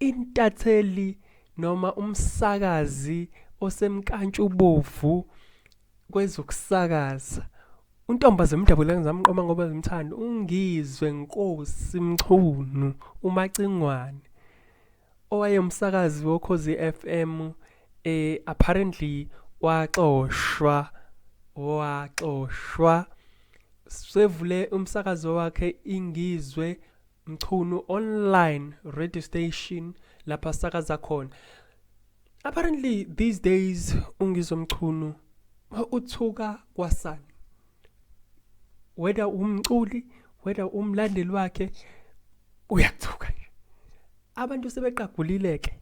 Intatheli noma umsakazi osemkantshubovu kwezokusakaza untombaze mdabula ngizamqoma ngoba ngimthanda ungizwe nkosi mchunu umacingwane owayemsakazi wokhozi FM eh apparently waxoshwa waxoshwa sevule umsakazo wakhe ingizwe Mchunu online radio station lapha sakaza khona apparently these days ungizwe mchunu uthuka kwasani whether umculi whether umlandeli wakhe uyathuka nje abantu sebeqagulile ke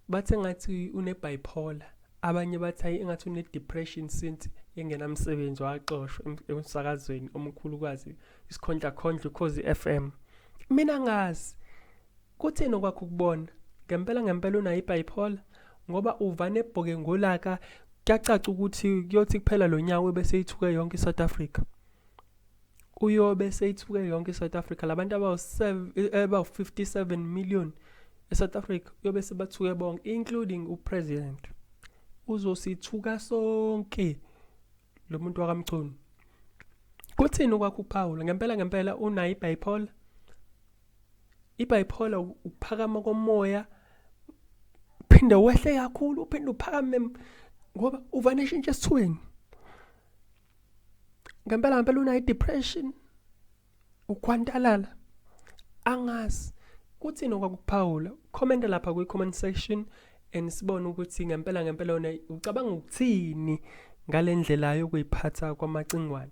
bathe ngathi une bipolar abanye bathayi engathi une depression since engenamsebenzi waxoshwa emsakazweni omkhulukazi isikhondla khondla ukhozi FM mina ngazi kuthini okwakho ukubona ngempela ngempela unayo ibipolar ngoba uvane ebhoke ngolaka kuyacaca ukuthi kuyothi kuphela lo nyawo bese ithuke yonke iSouth Africa uyobe seyithuke yonke iSouth Africa labantu abawu-57 eh, million eSouth Africa uyobe sebathuke bonke including upresident uzosithuka sonke lo muntu wakamchunu kuthini ukwakho ukuphawula ngempela ngempela unayo ibipolar ibipolar ukuphakama komoya phinde wehle kakhulu uphinde uphakame ngoba uvane ishintshe esithweni ngempela ngempela unayo depression ukhwantalala angazi kuthini okwakuphawula comment lapha kwi comment section and sibone ukuthi ngempela ngempela wena ucabanga ukuthini ngalendlela yokuyiphatha kwamacingwane